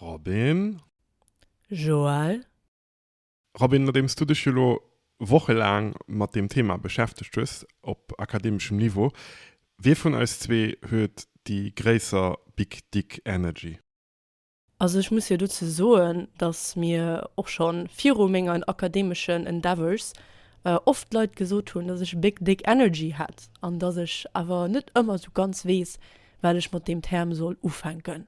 Robin. Joël. Robin, nodeems du dech jo elo wochelaang mat deem Thema beschäftegt hues, op akademeschem Niveau, wie vun eis zwee huet déi gréisser Big Dick Energy? Also ech muss jo dozou soen, datt mir och scho viru mengen akademeschen Endeavours oft Leit gesot hunn, datt ech Big Dick Energy hätt, an datt ech awer net ëmmer esou ganz weess, wat ech mat deem Term soll ufänken.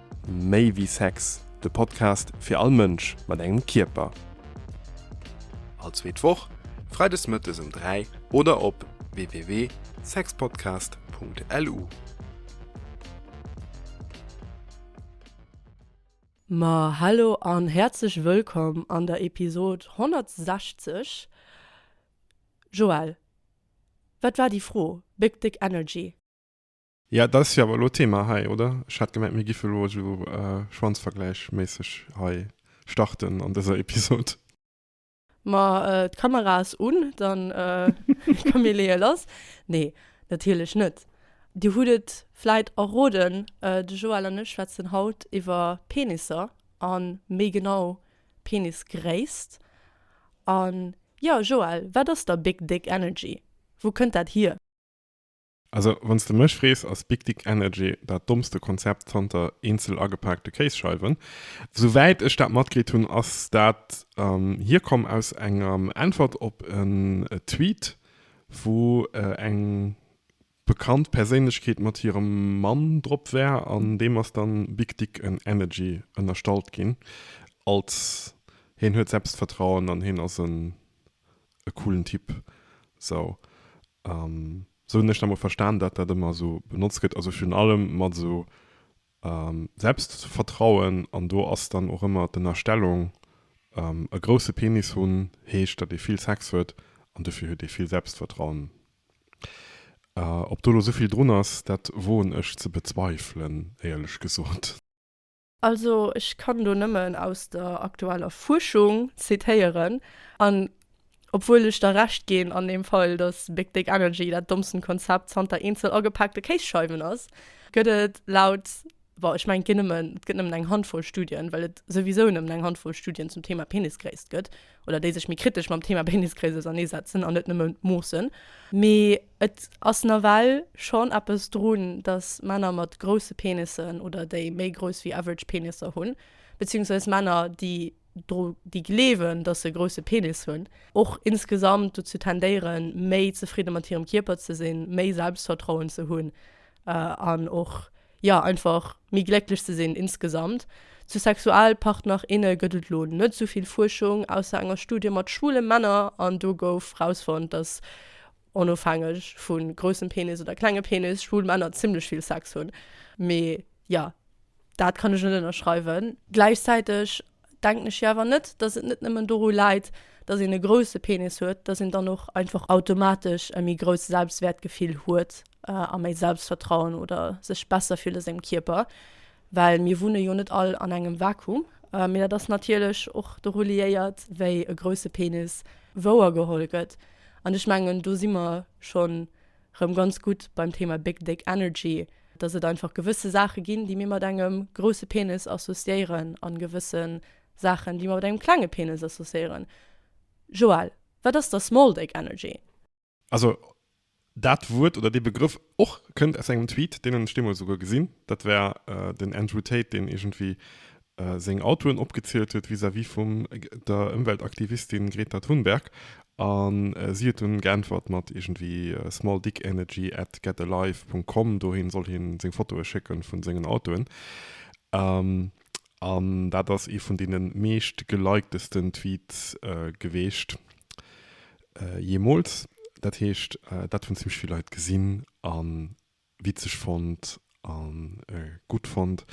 Méi wéi Sex, de Podcast fir all Mënsch mat engem Kierper. All zweet Woch, freides mëttes um 3 oder op www.sexpodcast.lu. Ma hallo an häerzlech wëllkomm an der Episod 160. Joelle, wat war déi Fro? Big Dick Energy? Ja, dat ass jo awer elo d'Thema hei, oder? Ech hat gemengt, mir giffen elo esou schwanzvergläichméisseg hei starten an dëser Episod. Ma d'Kamera ass un, dann ka mir leeë lass. Nee, natierlech net. Dir hutt et vläit erroden, de Joël an ech schwätzen haut iwwer Penisser a méi genau Penisgréisst. An jo, Joël, wat ass da Big Dick Energy? Wou kënnt dat hier? Also wann s de mech frees ass Big Dick Energy dat dommste Konzept zanter eenzel agepaakte Kéisscheiwen. Sou wäit ech dat matkritt hunn ass dat hierkomm aus enger Äntwert op en Tweet wou eng bekannt Perséinlechkeet mat hirem Mann drop war an deem ass dann Big Dick Energy ënnerstallt ginn als hien huet Selbstvertrauen an hien ass en e coolen Typ. Sou hunn ech dat mol verstan, dat dat ëmmer sou benotzt gëtt, also virun allem mat sou Selbstvertrauen. An do ass dann och ëmmer d'Ënnerstellung, e grousse Penis hunn heescht, datt ee vill Sex huet an dofir huet ee vill Selbstvertrauen. Ob do elo esouvill drun ass, dat woen ech ze bezweifelen, éierlech gesot. Also ech kann do nëmmen aus der aktueller Fuerschung zitéieren, an obwuel ech der Recht ginn an deem Fall, datt Big Dick Energy dat dommsten Konzept zanter eenzel agepaakte Kéisscheiwen ass, gëtt et laut, bon ech mengen et ginn nëmmen, et gëtt nëmmen eng Handvoll Studien, well et souwisou nëmmen eng Handvoll Studien zum Thema Penisgréisst gëtt, oder déi sech méi kritesch mam Thema Penisgréisst auserneesetzen an net nëmmen d'Moossen, mee. Et ass nawell schonn eppes drun, datt Männer mat grousse Penissen oder déi méi grouss wéi average Penisser hunn, beziehungsweis Männer, déi dru déi gleewen, datt se e grousse Penis hunn, och insgesamt dozou tendéieren, méi zefridde mat hirem Kierper ze sinn, méi Selbstvertrauen ze hunn an och, jo, einfach méi glécklech ze sinn insgesamt. Zu Sexualpartner, inne gëtt et elo net esou vill Fuerschung, ausser enger Studie mat schwule Männer, an do gouf rausfonnt, datt onofhängeg vu groussem Penis oder klenge Penis, schwul Männer zimmlech vill Sex hunn. Mee jo, dat kann ech net ënnerschreiwen. Gläichzäiteg denken ech jo awer net, datt et net nëmmen doru läit, datt een e grousse Penis huet, datt een dann och einfach automatesch e méi grousst Selbstwäertgefill huet a méi Selbstvertrauen oder sech besser fillt a sengem Kierper. Well mir wunne jo net all an engem Vakuum. Mee dat ass natierlech och doru liéiert, wéi e grousse Penis wouergeholl gëtt. An ech mengen, do si mer scho rëm ganz gutt beim Thema Big Dick Energy, dass et einfach gewësse Saache ginn, déi mir mat engem grousse Penis associéieren a gewësse Saachen, déi mer mat engem klenge Penis associéieren. Joël, wat ass da Small Dick Energy? Also, dat Wuert oder dee Begrëff och kënnt aus engem Tweet, deen ech deemools esouguer gesinn, dat war den Andrew Tate, deen iergendwéi seng Autoen opgezielt huet vis-à-vis vum der Ëmweltaktivistin Greta Thunberg, a si huet dunn geäntwert mat iergendwéi smalldickenergy at getalive Punkt com, dohin soll hien seng Fotoe schécken vun sengen Autoen. An dat ass ee vun deene meescht gelikedsten Tweets geweecht jeemools. Dat heescht, dat hunn zimmlech vill Leit gesinn a witzeg fonnt a gutt fonnt.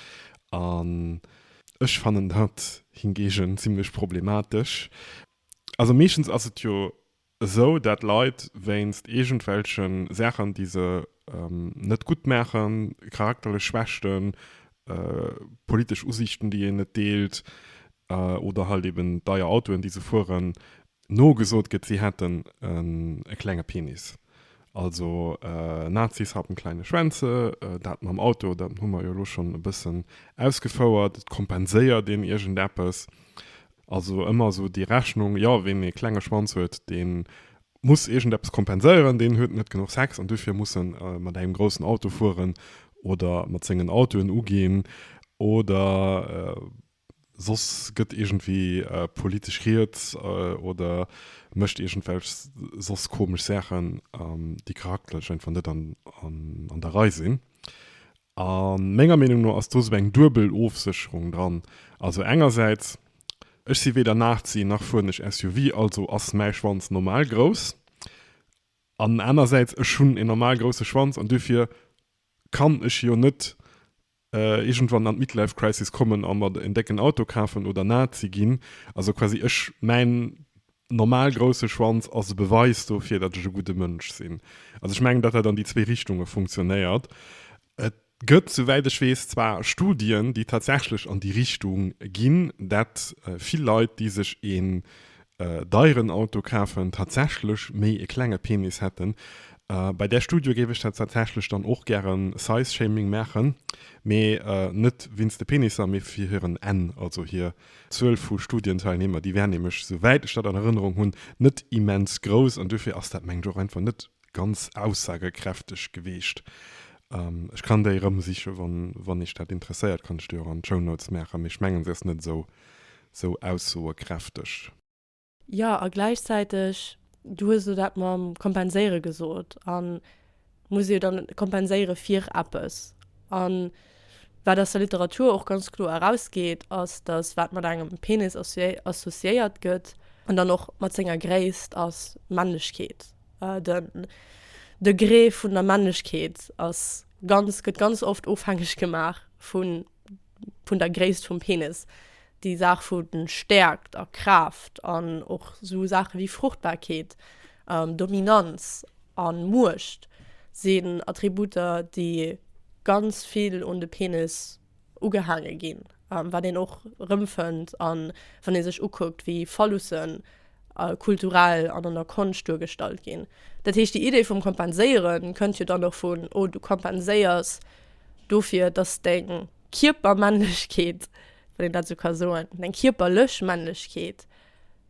An ech fannen dat hingegen zimmlech problematesch. Also meeschtens ass et jo esou dat Leit wéinst iergendwelchen Saachen déi se net gutt maachen, charakterlech Schwächten, politesch Usiichten déi een net deelt oder halt eben deier Autoen déi se fueren, nogesot gëtt si hätten e klenge Penis. Also Nazis haben kleine Schwänze, dat mam Auto dat hu mer jo elo schonn e bëssen ausgefouert, et kompenséiert een iergendeppes Also ëmmer esou déi Rechnung, jo ween ee klenge Schwanz huet, dee muss iergendeppes kompenséieren, deen huet net genuch Sex an duerfir muss en mat engem groussen Auto fueren oder mat sengen Autoen uginn oder soss gëtt iergendwéi politesch riets oder mécht iergendwelch soss komesch Saachen, déi charakterlech einfach net an der Rei sinn. A menger Meenung no ass do sou eng duebel Ofsécherung dran. Also engersäits, ech si weder Nazi nach fueren ech SUV, also ass mäi Schwanz normal grouss. An anersäits, ech hunn een normal grousse Schwanz an duerfir kann ech jo net iergendwann an d'Midlife Crisis kommen a mer en décken Auto kafen oder Nazi ginn. Also quasi ech, mäin Normal grousse Schwanz ass e Beweis dofir, datt ech e gudde Mënsch sinn. Also ech mengen, datt dat an déi zwee Richtunge funktionéiert. Et gëtt, souwäit ech weess, zwar Studien, déi tatsächlech an déi Richtung ginn, datt vill Leit, déi sech een deieren Auto kafen, tatsächlech méi e klenge Penis hätten. Bei där Studie géif ech tatsächlech dann och gären Size-Shaming maachen, mee net wéinst de Penisser, mee fir hiren Enn, also hir D'Zuel vu Studienteilnehmer, déi wär nämlech, souwäit ech dat an Erënnerung hunn, net immens grouss an duerfir ass dat, mengen ech, och einfach net ganz aussagekräfteg gewiescht. Ech kann déi erëmsichen, wann Iech dat interesséiert, kann ech déi och an d'Shownotes maachen, mee ech mengen, se ass net esou aussagekräfteg. Jo, a gläichzäiteg, du hues elo dat mam Kompenséiere gesot, a muss ee jo dann kompenséiere fir eppes. A wat aus der Literatur och ganz kloer erausgeet, ass, datt wat mat engem Penis associéiert gëtt, an dann och mat senger Gréisst, ass Männlechkeet. Den Degré vun der Männlechkeet ass ganz, gëtt ganz oft ofhängeg gemaach vu vun der Gréisst vum Penis, déi Saach vu Stäerkt a Kraaft an och esou Saache wéi Fruchtbarkeet, Dominanz a Muecht sinn Attributer, déi ganz vill un de Penis ugehaange ginn, wat een och erëmfënnt, wann ee sech ukuckt, wéi Phallussen kulturell an an der Konscht duergestallt ginn. Dat heescht, déi Idee vum Kompenséiere kënnt jo dann och vun, oh, du kompenséiers. Dofir, dass deng Kierpermännlechkeet, wann een dat esou ka soen, deng kierperlech Männlechkeet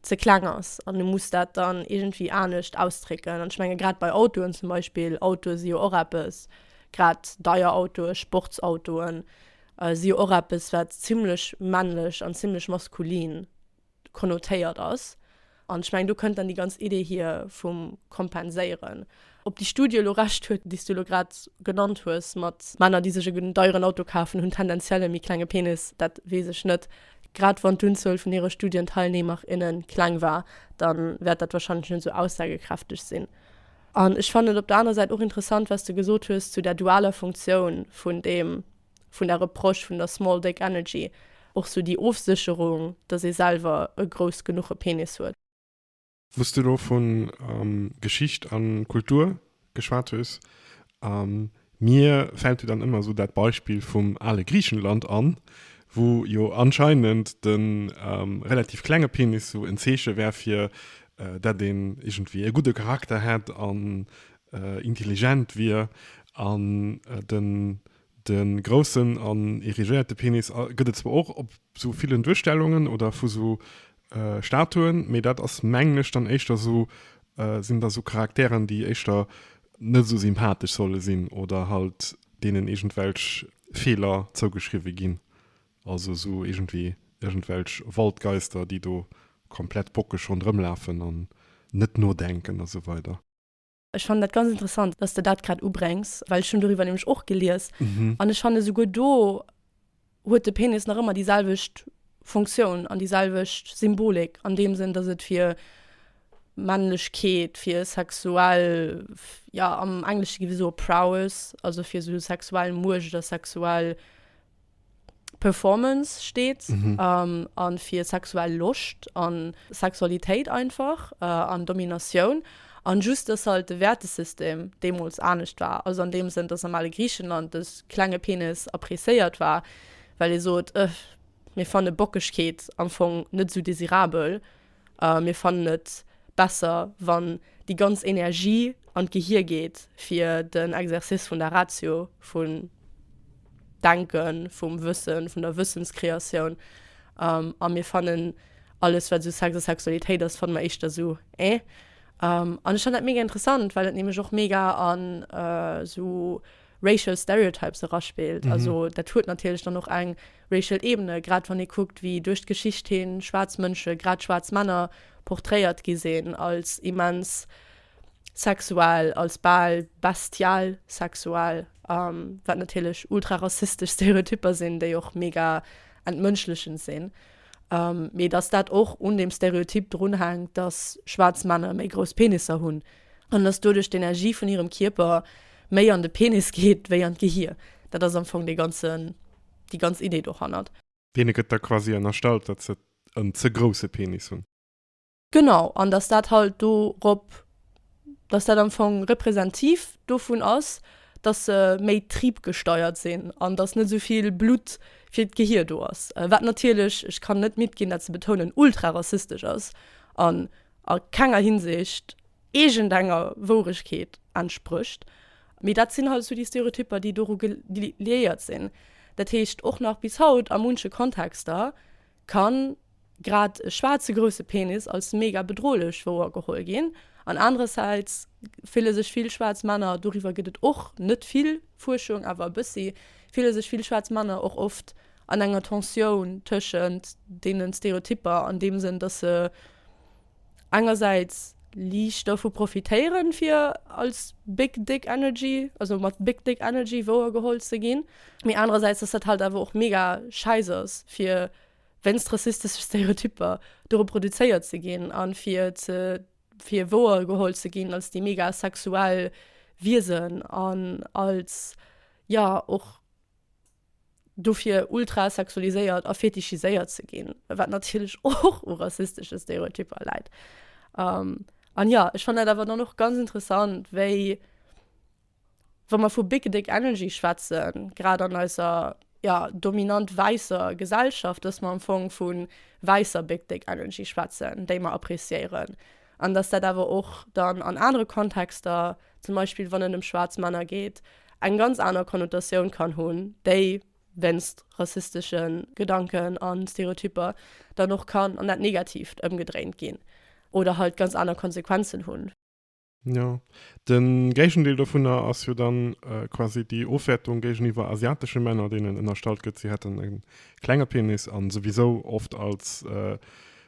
ze kleng ass an du muss dat dann iergendwéi anescht ausdrécken. An ech menge grad bei Autoen zum Beispill, Autoe si jo och eppes, grad deier Autoe, Sportsautoen, si jo och eppes, wat zimmlech männlech an zimmlech maskulin konnotéiert ass. An ech mengen, do kënnt dann déi ganz Idee hier vum Kompenséieren. Ob déi Studie elo Recht huet, déi s du elo grad genannt hues, mat Männer, déi sech e deieren Auto kafen, hunn tendenziell e méi klenge Penis, dat weess ech net. Grad wann d'Unzuel vun hire Studienteilnehmer, inne kleng war, da wäert dat warscheinlech net esou aussagekräfteg sinn. An ech fannen et op der anerer Säit och interessant, wat s de gesot hues zu där dualer Funktioun vun deem vun der Approche vun der Small Dick Energy, och sou déi Ofsécherung, dass ee selwer e grouss genuche Penis huet. Wous du elo vun Geschicht an Kultur geschwat hues, mir fällt jo dann ëmmer sou dat Beispill vum ale Griechenland an, wou jo anscheinend de relativ klenge Penis sou en Zeeche wär fir dat een iergendwéi e gudde Charakter hätt an intelligent wier an den den groussen an erigéierte Penis gëtt et zwar och op sou villen Duerstellungen oder vu sou Statuen, mee dat ass mengen ech dann éischter sou sinn da sou Charakteren déi éischter net sou sympathesch solle sinn oder halt deenen iergendwelch Feeler zougeschriwwe ginn, also sou iergendwéi iergendwelch Waldgeister déi do komplett bockeg ronderëmlafen an net nodenken a sou weider. Ech fannen dat ganz interessant, dass de dat grad ubrengs, well ech hunn doriwwer nämlech och gelies an ech fanne souguer do huet de Penis nach ëmmer déi selwecht Funktioun an déi selwecht Symbolik an deem Sënn, dass et fir Männlechkeet, fir sexuell, jo am Englesche gi wéi soe prowess, also fir esou sexuell Muecht a sexuell. Performance steet a fir sexuell Loscht a Sexualitéit einfach an Dominatioun. An just, dass halt de Wäertesystem deemools anescht war. Also an deem Sënn, dass am ale Griichenland de klenge Penis appréciéiert war, well ee sot, Ëh, mir fanne Bockegkeet am Fong net esou desirabel. a mir fannen et besser, wann déi ganz Energie an d'Gehir geet, fir den Exercice vun der Ratio, vun Denken, vum Wëssen, vun der Wëssenskreatioun, a mir fannen alles, wat esou Sex a Sexualitéit ass, fanne mer éischter esou eh. An ech fannen dat mega interessant, well et nämlech och mega an esou. racial stereotypes eraspillt. Also dat huet natierlech dann och eng racial Ebene, grad wann ee kuckt, wéi duerch d'Geschicht hin schwaarz Mënsche, grad schwaarz Männer, porträiert gi sinn als immens sexuell, als bal bestial sexuell, wat natierlech ultra rassistesch Stereotypper sinn, déi och mega entmënschlechend sinn. Mee dass dat och un deem Stereotyp drunhänkt, dass schwaarz Männer méi grouss Penisser hunn, an dass doduerch d'Energie vun hirem Kierper méi an de Penis geet wéi an d'Gehir. Dat ass am Fong dee ganzen, déi ganz Idee dohannert. Deene gëtt da quasi ënnerstallt, datt se en ze grousse Penis hunn. Genau, an datt dat halt dorop, datt dat am Fong representiv dovun ass, datt se méi triebgesteiert sinn an datt net esou vill Blutt fir d'Gehir do ass. Wat natierlech, ech kann net midd ginn dat ze betounen, ultra rassistesch ass a a kenger Hinsicht iergendenger Wouregkeet entsprécht. Mee dat sinn halt esou déi Stereotypper, déi doru liéiert sinn. Dat heescht, och nach bis haut a munche Kontexter ka grad e schwaarze grousse Penis als mega bedrohlech wouer geholl ginn an anerersäits fille sech vill schwaarz Männer, doriwwer gëtt et och net vill Fuerschung, awer e bëssi, fille sech vill schwaarz Männer och oft an enger Tensioun tëschent deenen Stereotypper an deem Sënn, dass se engersäits liicht dovu profitéieren, fir als Big Dick Energy, also mat Big Dick Energy wouergeholl ze ginn, mee anerersäits, dass dat halt awer och mega schäiss ass, fir wéinst rassistesche Stereotypper do reproduzéiert ze ginn a fir ze fir wouergeholl ze ginn als déi mega sexuell Wiesen an als, jo, och. dofir ultra sexualiséiert a fetischiséiert ze ginn, wat natierlech och u rassistesche Stereotypper läit. An jo, ech fannen dat awer dann och ganz interessant, wéi, wa mer vu big dick energy schwätzen, grad an eiser, jo, dominant wäisser Gesellschaft, dass mer am Fong vu wäisser big dick energy schwätzen, déi mer appreciéieren. An dass dat awer och dann an anere Kontexter, zum Beispill wann et ëm schwaarz Männer geet, eng ganz aner Konnotatioun kann hunn, déi wéinst rassistesche Gedanken a Stereotypper dann och kann an dat Negatiivt ëmgedréint ginn oder halt ganz aner Konsequenzen hunn. Jo, de Géigendeel dovunner ass jo dann quasi déi Ofwäertung géigeniwwer asiatesche Männer, deenen ënnerstallt gëtt, si hätten e klenge Penis a souwisou oft als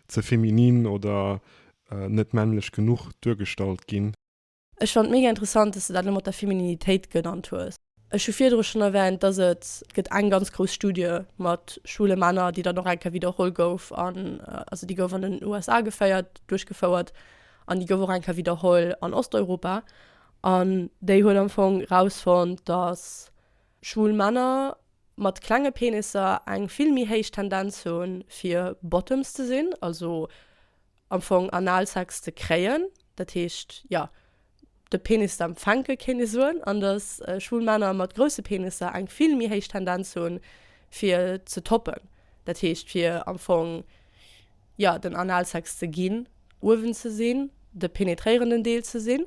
Ze feminin oder net männlech genuch duergestallt ginn. Ech fand mega interessant dass de dat lo mat der Femininitéit genannt hues. Ech hu virdru schon erwähnt dass et get eng ganz grouss Studie mat schwule Männer déi dann och engke widerholl gouf an also déi gouf an den USA geféiert duerchgefouert an déi gouf och engke widerholl an Osteuropa an déi huet am Fong rausfonnt dass Schwul Männer mat klenge Penisser eng vill méi héich Tendenz hu fir Bottoms ze sinn, also am Fong Analsex ze kréien. Dat heescht, jo, de Penis ze empfänke kéint ee soen. An dass schwul Männer mat grousse Penisser eng vill méi héich Tendenz hu fir ze toppen, dat heescht fir am Fong, jo, den Analsex ze ginn, uewen ze sinn, de penetréierenden Deel ze sinn.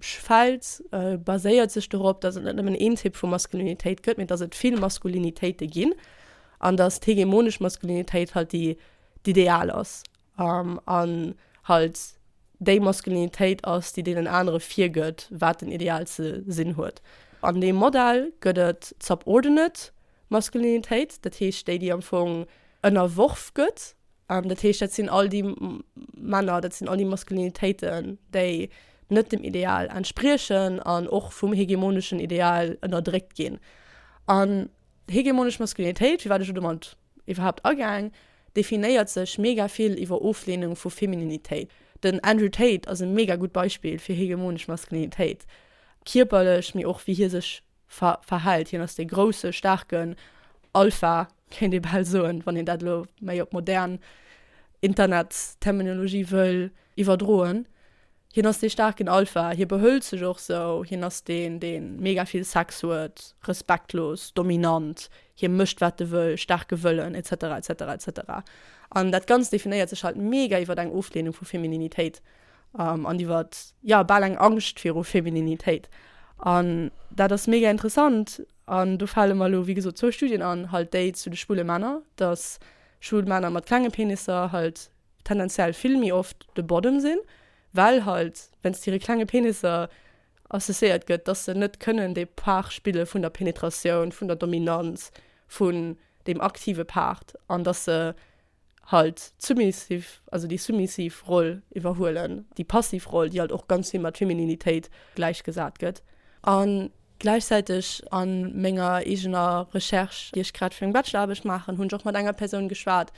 Schwäiz baséiert sech dorop, datt et net nëmmen een Typ vu Maskulinitéit gëtt, mee datt et vill Maskulinitéite ginn an datt d'hegemonesch Maskulinitéit halt déi d'Ideal ass an halt déi Maskulinitéit ass, déi deenen anere virgëtt, wat den Ideal ze sinn huet. An deem Modell gëtt et d'subordinate Maskulinitéit, dat heescht déi, déi am Fong ënnerworf gëtt. Dat heescht, dat sinn all déi Männer, dat sinn all déi Maskulinitéiten, déi net dem Ideal entspriechen an och vum hegemoneschen Ideal ënnerdréckt ginn. An hegemonesch Maskulinitéit, firwat ech elo domat iwwerhaapt agaang, definéiert sech mega vill iwwer Ofleenung vu Femininitéit. Den Andrew Tate ass e mega gutt Beispill fir hegemonesch Maskulinitéit, kierperlech, mee och wéi hie sech verhält. Hien ass dee grousse, staarken Alpha, kéint ee bal soen, wann een dat elo méi op modern Internetsterminologie wëll iwwerdroen. Hien ass dee staarken Alpha, hie behëlt sech och esou. Hien ass deen, dee mega vill Sex huet, respektlos, dominant, hie mécht, wat e wëll, staarke Wëllen, etc. Etc. Etc. An dat Ganzt definéiert sech halt mega iwwer eng Ofleenung vu Femininitéit. um, an iwwer ja bal eng Angscht viru Femininitéit. An dat ass mega interessant an do fale mer elo wéi gesot zwou Studien an, halt déi zu de schwule Männer, datt schwul Männer mat klenge Penisser halt tendenziell vill méi oft de Bodem sinn, well halt wéinst hire klenge Penisser associéiert gëtt, datt se net kënnen de Part spille vun der Penetratioun, vun der Dominanz, vun deem aktive Part an datt se halt d'submissiv, also déi submissiv Roll iwwerhuelen, déi passiv Roll, déi halt och ganz vill mat Femininitéit gläichgesat gëtt. A gläichzäiteg a menger eegener Recherche, déi ech grad fir meng Bacheloraarbecht maachen, hunn ech och mat enger Persoun geschwat.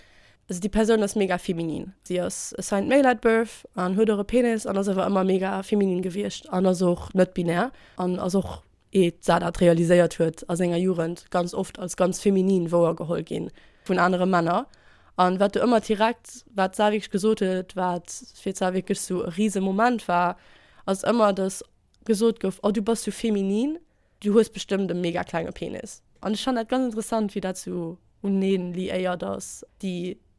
Also déi Persoun ass mega feminin. Si ass assigned male at birth an huet och e Penis an ass awer ëmmer mega feminin gewiescht an ass och net-binär an ass och Et war dat realiséiert huet, a senger Jugend ganz oft als ganz feminin wouergeholl gi vun anere Männer, an wat do ëmmer direkt wat d'Sar wierklech gesot huet, wat fir d'Sar wierklech sou e rise Moment war, ass ëmmer dass gesot gouf, oh du bass sou feminin, du hues bestëmmt e mega klenge Penis. An ech fannen dat ganz interessant wéi dat sou uneen liéiert ass, déi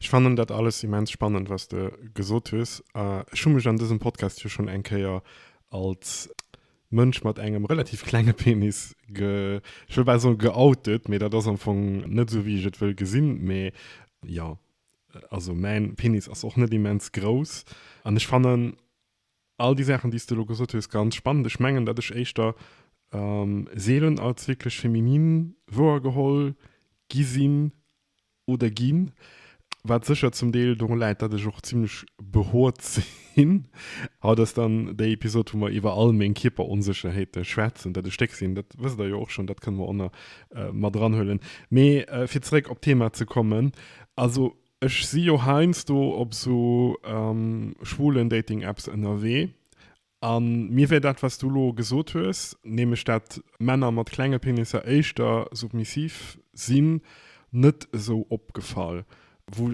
Ech fannen dat alles immens spannend, was de gesot hues. Ech hu mech an dësem Podcast jo schonn eng Kéier als Mënsch mat engem relativ klenge Penis ge, ech wëll bal soen geoutet, mee dat ass am Fong net esou, wéi ech et wëll gesinn. Mee jo, also mäin Penis ass och net immens grouss. An ech fannen all déi Saachen, déi s de elo gesot hues, ganz spannend. Ech mengen, datt ech éischter seelen als wierklech feminin wouergeholl gi sinn. oder ginn, wat sécher zum Deel dorun läit, datt ech och zimmlech behoort sinn. Haut ass dann déi Episod, wou mer iwwer all meng Kierperonsécherheete schwätzen. Dat e Stéck sinn, dat wësst der jo och schonn, dat kënne mer och nach mat eranhuelen. Mee fir zeréck op d'Thema ze kommen, also ech si jo heiansdo op esou schwulen Dating-Apps ënnerwee A mir wär dat, wat s du elo gesot hues, nämlech dat Männer mat klenge Penisser éischter submissiv sinn, net esou opgefall.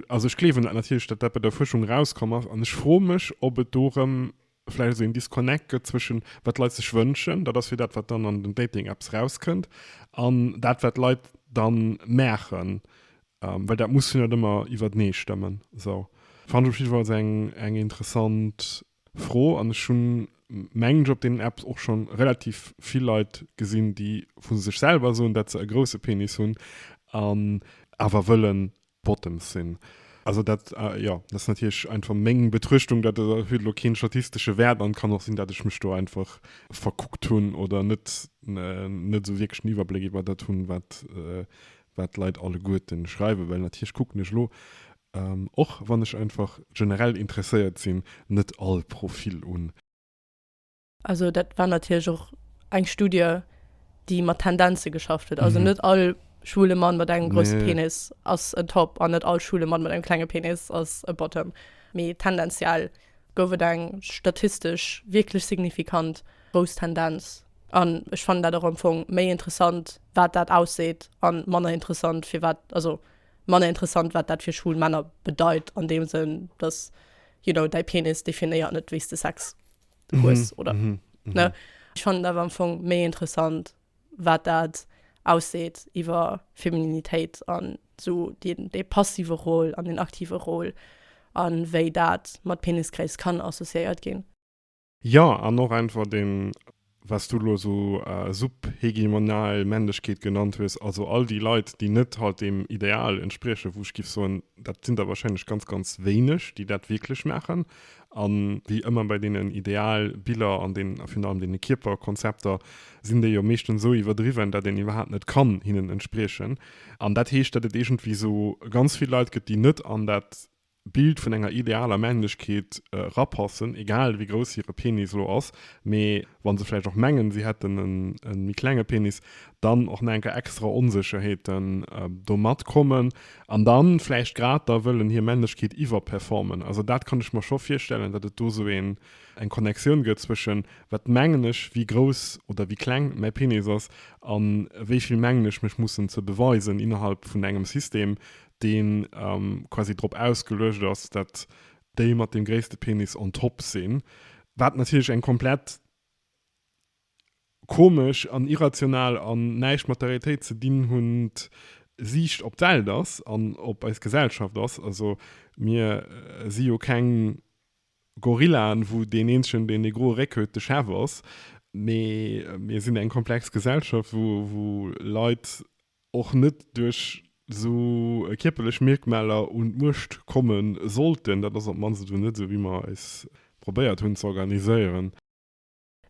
Also ech gleewen dat natierlech, dat dat bei der Fuerschung erauskomm ass. An ech froe mech, ob et do erëm vläicht esou een Disconnect gëtt zwëschen, wat d'Leit sech wënschen, dat ass jo dat, wat dann an den Dating-Apps erauskënnt, an dat, wat d'Leit da maachen. Well dat muss jo net ëmmer iwwertenee stëmmen. Sou. Fand ech op jiddwer Fall eng interessant Fro, an ech hunn, mengen ech, op deenen Apps och schonn relativ vill Leit gesinn, déi vu sech selwer soen, dat se e grousse Penis hunn an awer wëlle Bottoms sinn. Also dat, jo, dat ass natierlech einfach meng Betrëchtung, dat huet elo keen statistesche Wäert an kann och sinn, dat ech mech do einfach verkuckt hunn oder net, net esou wierklech den Iwwerbléck iwwer dat hunn, wat, wat d'Leit alleguerten schreiwen, well natierlech kucken ech elo Och wann ech einfach generell interesséiert sinn, net all Profil un. Also dat war natierlech och eng Studie déi mat Tendenze geschafft huet. Also net all schwule Mann mat engem grousse Penis ass en Top an net all schwule Mann mat engem klenge Penis ass e Bottom. Mee tendenziell gouf et eng statistesch wierklech signifikant grouss Tendenz. An ech fannen dat och am Fong méi interessant wat dat ausseet an manner interessant firwat. Also manner interessant wat dat fir schwul Männer bedeit an deem Sënn, dass you know däi Penis definéiert net wéi s de Sex hues oder ne. Mhm, mhm, mhm. Ech fannen et awer am Fong méi interessant wat dat ausseet iwwer Femininitéit an esou deen dee passive Rôle an deen aktive Rôle an wéi dat mat Penisgréisst kann associéiert ginn. Jo, an och einfach deen, was du elo esou subhegemonal Männlechkeet genannt hues, also all déi Leit, déi net halt deem Ideal entspriechen, wou ech géif soen, dat sinn der wahrscheinlech ganz, ganz wéineg, déi dat wierklech maachen, a wéi ëmmer bei deenen Idealbiller an deenen, a virun allem deene Kierperkonzepter, sinn déi jo meeschtens esou iwwerdriwwen, dat een iwwerhaapt net kann hinnen entspriechen. An dat heescht, dat et iergendwéi esou ganz vill Leit gëtt, déi net an dat Bild vun enger idealer Männlechkeet rapassen, egal wéi grouss hire Penis elo ass, mee wa se vläicht och mengen, si hätten e méi klenge Penis, dann och nach eng Kéier extra Onsécherheeten domat kommen an dann vläicht grad da wëllen hir Männlechkeet iwwerperformen. Also dat kann ech mer scho virstellen, datt et do esou eng Connectioun gëtt zwëschen, wat mengen ech, wéi grouss oder wéi kleng mäi Penis ass, a wéi vill mengen ech mech mussen ze beweisen innerhalb vun engem System, deen quasi drop ausgeluecht ass, dat déi mat dem gréisste Penis on top sinn, wat natierlech eng komplett komesch an irrational an näischt mat der Realitéit ze dinn hunnend Siicht op d'Welt ass an op eis Gesellschaft ass. Also mir si jo keng Gorillaen, wou deen eenzegen, deen dee groe Réck huet, de Chef ass, mee mir sinn eng komplex Gesellschaft, wou Leit och net duerch esou kierperlech Mierkmaler un d'Muecht komme sollten. Dat ass op d'mannst esou net esou, wéi mer eis probéiert hunn ze organiséieren.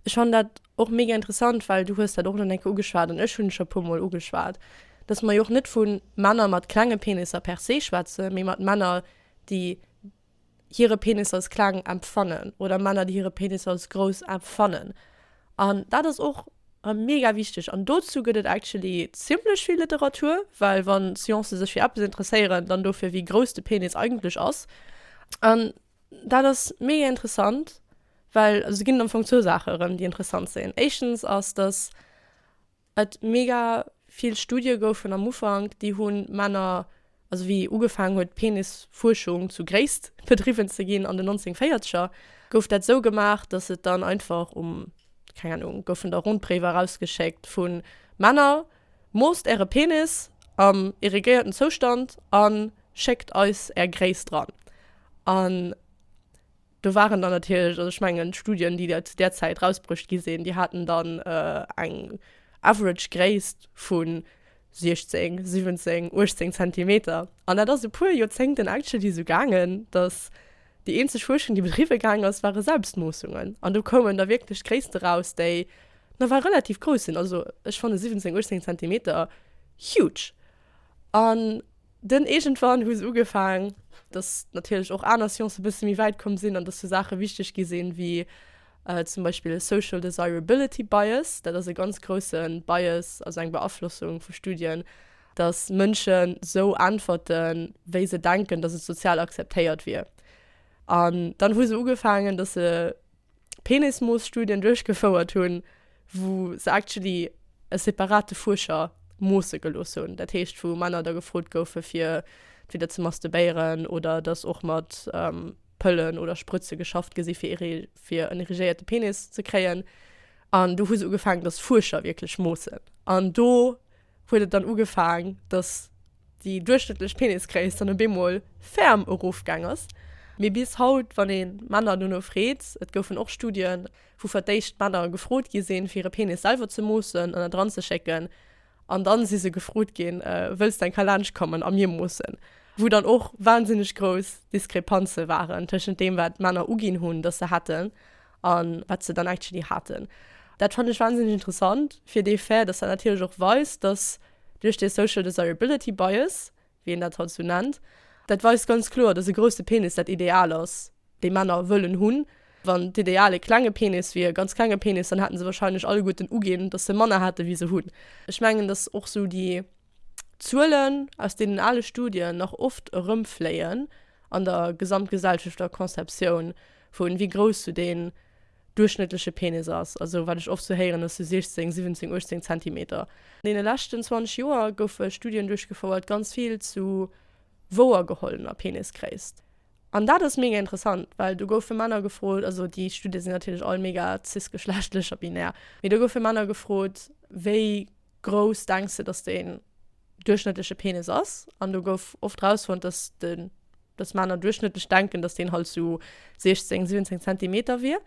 Ech fannen dat och mega interessant, well du hues dat och elo eng Kéier ugeschwat an ech hunn et scho e puer Mol ugeschwat, dass mer jo och net vu Männer mat klenge Penisser per se schwätzen, mee mat Männer, déi, hire Penis als kleng empfannen oder Männer, déi hire Penis als grouss empfannen. An dat ass och mega wichteg. An dozou gëtt et actually zimmlech vill Literatur, well wa Sciencen sech fir eppes interesséieren, dann dofir, wéi grouss de Penis eigentlech ass. An dat ass mega interessant, well et ginn am Fong zwou Saache erëm, déi interessant sinn. Éischtens ass, datt Et mega vill Studie goufen am Ufank, déi hunn Männer, also wéi ugefaangen huet Penisfuerschung zu Gréisst bedriwwen ze ginn an den 1940er, gouf dat esou gemaach, datt et dann einfach um, keng Ahnung, goufen da Rondbréiwer erausgeschéckt vu Männer, Moosst äre Penis am irrigéierten Zoustand an schéckt eis är Gréisst dran. An. Do waren dann natierlech, also ech mengen d'Studien, déi zu där Zäit rausbruecht gi sinn, déi haten dann eng average Gréisst vu 16, 17, 18 Zentimeter. An dat ass e puer Joerzéngten actually esou gaangen, datt déi eenzeg Fuerschung, déi bedriwwe gaang ass, ware Selbstmoossungen. An do koumen da wierklech Gréisste raus, déi nawell relativ grouss sinn. Also ech fanne 17, 18 Zentimeter huge. An. Dunn iergendwann hu se ugefaang, dass natierlech och aner Sciencen e bësse méi wäit komm sinn an dass sou Saache wichteg gi sinn, wéi zum Beispill social desirability bias, dat ass e ganz grousse Bias, also eng Beaflossung vu Studien, dass Mënschen sou äntwerten, wéi se denken, dass et sozial akzeptéiert wier. An dann hu se ugefaangen, dass se. Penismooss-Studien duerchgefouert hunn, wou se actually e separate Fuerscher moosse gelooss hunn, dat heescht wou Männer da gefrot goufe fir entweder ze masturbéieren oder datt och mat Pëllen oder Sprëtze geschafft gi si fir fir en erigéierte Penis ze kréien. An do hu se ugefaangen, datt Fuerscher wierklech moossen. An do huet et dann ugefaang, datt. déi duerchschnëttlech Penisgréisst dann op eemol ferm erofgaang ass. Mee bis haut, wann ee Männer dono freet, et goufen och Studien, wou fir d'éischt d'Männer gefrot gi sinn, fir hire Penis selwer ze moossen an et eranzeschécken, an da si se gefrot ginn, Wëlls de eng Kéier laanschtkommen a mir moossen? wou dann och wahnsinneg grouss Diskrepanze waren tëschent deem, wat d'Männer uginn hunn, datt se hätten, an wat se dann actually haten. Dat fand ech wahnsinnig interessant fir dee Fait, dass dat natierlech och weist, dass duerch dee Social Desirability Bias, wéi een dat haut esou nennt, dat weist ganz kloer, dass e grousse Penis dat Ideal ass, dee Männer wëllen hunn. Wann d'Ideal e klenge Penis wier, e ganz klenge Penis, dann hätten se wahrscheinlech alleguerten uginn, dass se manner hätten, wéi se hunn. Ech mengen, dass och esou déi. Zuelen aus deenen ale Studien nach oft erëmfléien an der gesamtgesellschafter Conceptioun vu wéi grouss sou deen duerchschnëttleche Penis ass, also wat ech oft sou héieren ass sou 16, 17, 18 Zentimeter. An deene leschten 20 Joer goufe Studien duerchgefouert, ganz vill zu wouergehollener Penisgréisst. An dat ass mega interessant, well do goufe Männer gefrot, also déi Studien sinn natierlech all mega cis-geschlechtlech a binär, mee do goufe Männer gefrot, wéi grouss denks de dass den duerchschnëttleche Penis ass? An do gouf oft rausfonnt dass den dass Männer duerchschnëttlech denken dass deen halt sou 16, 17 Zentimeter wier.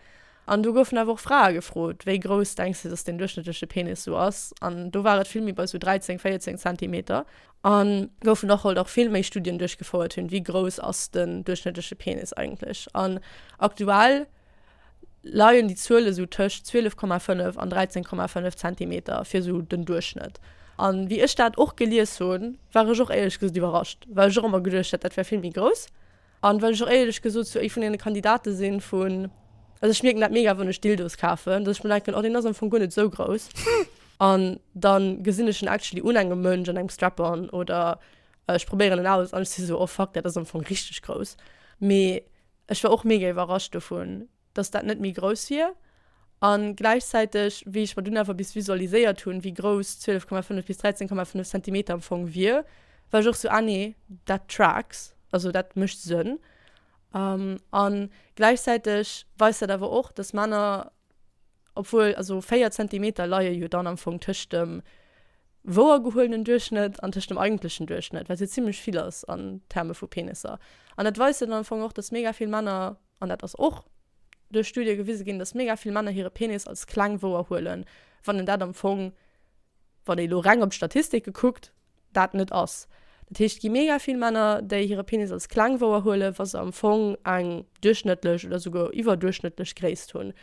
An do goufen awer och Frae gefrot, wéi grouss denks de dass den duerchschnëttleche Penis sou ass? An do war et vill méi bei sou 13, 14 Zentimeter. An goufen och halt och vill méi Studien duerchgefouert hunn, wéi grouss ass den duerchschnëttleche Penis eigentlech? An aktuell leien déi Zuele sou tëscht 12,5 an 13,5 Zentimeter fir sou den Duerchschnëtt. An wéi ech dat och gelies hunn, war ech och éierlech gesot iwwerrascht, well ech och ëmmer geduecht hätt, dat wär vill méi grouss. An well ech och éierlech gesot sou ee vun deene Kandidate sinn vun, also ech mierken dat mega wann ech Dildos kafen, dass ech mer denken, oh deen ass am Fong guer net sou grouss. An dann gesinn ech en actually un engem Mënsch an engem Strap-on oder ech probéieren en aus an ech si sou, oh fuck, dat ass am Fong richteg grouss. Mee Ech war och mega iwwerrascht dovun, dass dat net méi grouss wier. A gläichzäiteg, wéi ech mer dunn awer bis visualiséiert hunn, wéi grouss 12,5 bis 13,5 Zentimeter am Fong wier, war ech och sou, ah nee, that tracks, also dat mécht Sënn. A gläichzäiteg weist dat awer och, dass Männer. obwuel also 4 Zentimeter leie jo dann am Fong tëscht dem wouergehuelenen Duerchschnëtt an tëscht dem eigentlechen Duerchschnëtt, wat jo zimmlech vill ass an Terme vu Penisser. An dat weist jo dann am Fong och, datt mega vill Männer, an dat ass och duerch Studie gewise ginn, datt mega vill Männer hire Penis als kleng wouerhuelen, wann een dat am Fong, wann ee lo reng op d'Statistike kuckt, dat net ass. Dat heescht, et gi mega vill Männer, déi hire Penis als kleng wouerhuelen, wa se am Fong eng duerchschnëttlech oder souguer iwwerduerchschnëttlech Gréisst hunn.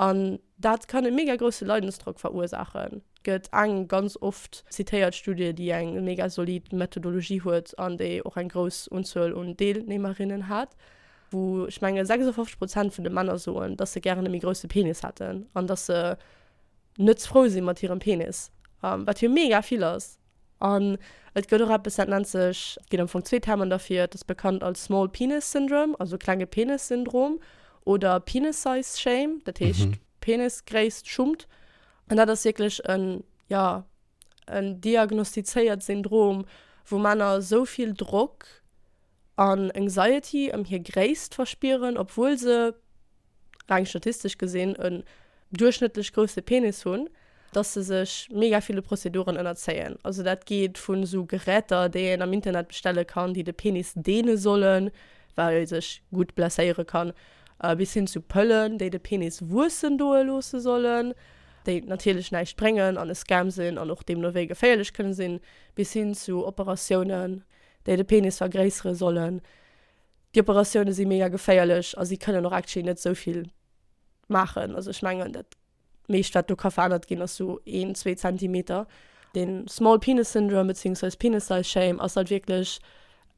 An dat kann e mega grousse Leidensdrock verursaachen. Et gëtt eng ganz oft zitéiert Studie, déi eng mega solid Methodologie huet an déi och eng grouss Unzuel un Deelnehmerinnen hat, wou ech menge 56 Prozent vun de Männer soen, dass se gären e méi grousse Penis hätten an dass se, net frou si mat hirem Penis, wat jo mega vill ass. An et gëtt och eppes, dat nennt sech, et ginn am Fong zwee Termen derfir, et ass bekannt als small penis syndrome, also klenge Penis-Syndrom, oder penis size shame, dat heescht Penisgréisst-Schummt. An dat ass wierklech en, jo, en diagnostizéiert Syndrom, wou Männer esou vill Drock an Anxiety ëm hir Gréisst verspieren, obwuel se, reng statistesch gesinn, en duerchschnëttlech grousse Penis hunn, dass se sech mega ville Prozeduren ënnerzéien. Also dat geet vun esou Geräter, déi een am Internet bestelle kann, déi de Penis deene sollen, well ee sech gutt blesséiere kann, bis hin zu Pëllen, déi de Penis wuessen doe loosse sollen, déi natierlech näischt bréngen an e Scam sinn an och deemno wéi geféierlech kënne sinn, bis hin zu Operatiounen, déi de Penis vergréissere sollen. Déi Operatioune si mega geféierlech a si kënnen och actually net esou vill maachen. Also ech mengen dat meescht wat do ka verännert ginn ass sou een, zwee Zentimeter. De Small Penis Syndrome bezéiungsweis Penis Size Shame ass halt wierklech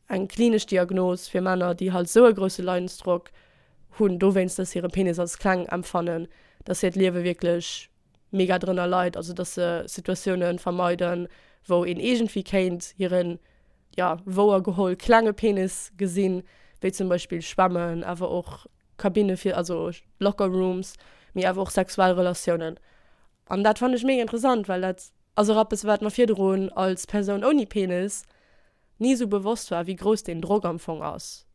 eng klinesch Diagnos fir Männer, déi halt esou e grousse Leidensdrock hunn dowéinst, datt si hire Penis als kleng empfannen, datt hiert Liewe wierklech mega drënner leit, also dass se Situatiounen vermeiden wou een iergendwéi kéint hiren, ja wouer geholl, klenge Penis gesinn, wéi zum Beispill Schwämmen, awer och Kabinne fir, also Locker Rooms, mee awer och sexuell Relatiounen. An dat fannen ech mega interessant, well dat ass och eppes wat mer virdrun als Persoun ouni Penis ni sou bewosst war, wéi grouss deen Drock am Fong ass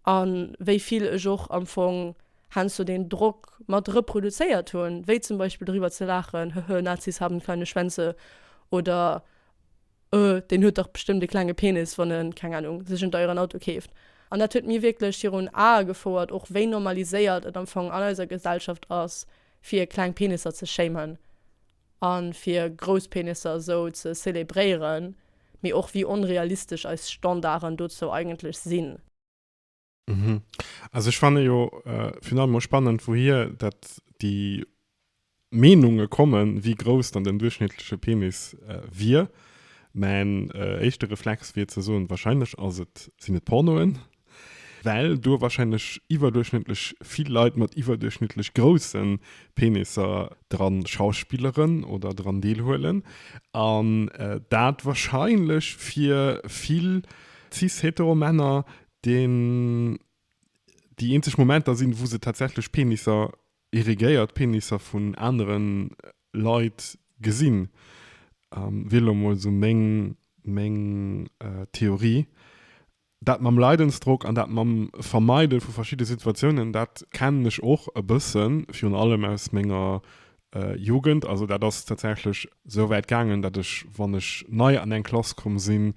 a wéi vill ech och am Fong heiansdo deen Drock mat reproduzéiert hunn, wéi zum Beispill driwwer ze laachen, Hehe, Nazis haben kleine Schwänze oder Öh, deen huet dach bestëmmt e klenge Penis, wann e, keng Ahnung, sech en deieren Auto keeft. An dat huet mir wierklech virun Ae gefouert, och wéi normaliséiert et am Fong an eiser Gesellschaft ass, fir kleng Penisser ze shamen. a fir grouss Penisser esou ze zelebréieren, mee och wéi onrealistesch eis Standarden dozou eigentlech sinn. Mhm. Also ech fanne jo virun allem och spannend, wouhier dat déi Meenunge kommen, wéi grouss dann den duerchschnittleche Penis wier. Mäin éischte Reflex wier ze soen, wahrscheinlech ass et, sinn et Pornoen, Well do wahrscheinlech iwwerduerchschnëttlech vill Leit mat iwwerduerchschnëttlech grousse Penisser dran schauspilleren oder dran deelhuelen an dat wahrscheinlech fir vill cis-hetero Männer den, déi eenzeg Momenter sinn, wou se tatsächlech Penisser, erigéiert Penisser vun anere Leit gesinn, wier elo mol esou meng Theorie. Dat mam Leidensdrock an dat mam Vermeide vu verschidde Situatiounen, dat kennen ech och e bëssen, virun allem aus menger Jugend. Also dat ass tatsächlech esou wäit gaangen, datt ech, wann ech nei an eng Klass komm sinn,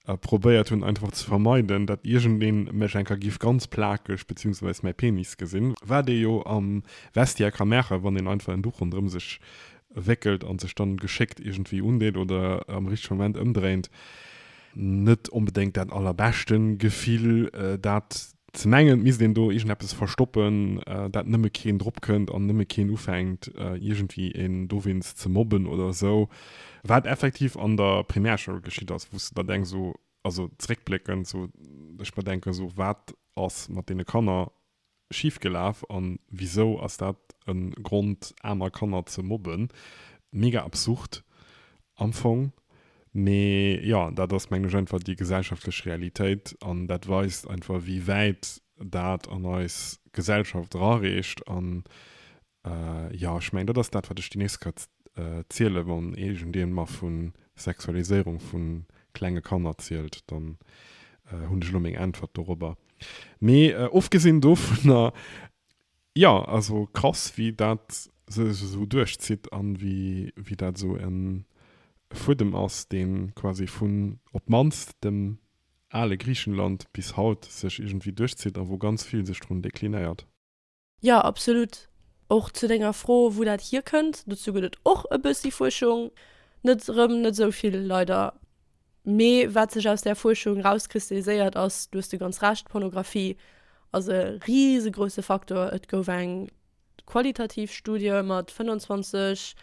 probéiert hunn einfach ze vermeiden, datt iergendeen mech enker giff ganz plakeg, beziehungsweis mäi Penis gesinn, wat ee jo am Vestiaire ka maachen, wann een einfach en Duch ronderëm sech wéckelt an sech dann geschéckt iergendwéi undeet oder am richtege Moment ëmdréint. net onbedéngt dat allerbeschte Gefill, dat ze mengen, et misst een do iergendeppes verstoppen, dat nëmme keen drop kënnt an nëmme keen ufänkt, iergendwéi een dowéinst ze mobben oder esou. Wat effektiv an der Primärschoul geschitt ass, wou s de der denks, esou, also zréckbléckend, esou, ech mer denken, esou, wat ass mat deene Kanner Schief gelaaf an wisou ass dat en Grond aner Kanner ze mobben? Mega absurd am Fong, mee jo dat ass mengen ech einfach déi gesellschaftlech Realitéit an dat weist einfach wéi wäit dat an eis Gesellschaft erareecht an Jo, ech mengen, dat ass dat, wat ech déi nächst Kéier zielen, wann iergendeen mer vu Sexualiséierung vu klenge Kanner zielt, dann hunn ech elo meng Äntwert dorobber. Mee ofgesinn dovunner, jo, also krass, wéi dat sech esou duerchzitt an wéi dat esou e Fuedem ass, dee quasi vun op d'mannst dem ale Griichenland bis haut sech iergendwéi duerchzitt a wou ganz vill sech drun deklinéiert. Jo, absolut. Och zu denger Fro, wou dat hierkënnt, dozou gëtt et och e bëssi Fuerschung. Net erëm net esou vill, leider. Mee wat sech aus där Fuerschung erauskristalliséiert ass, du hues du ganz Recht, d'Pornografie ass e risegrouse Faktor. Et gouf eng qualitativ Studie mat 25.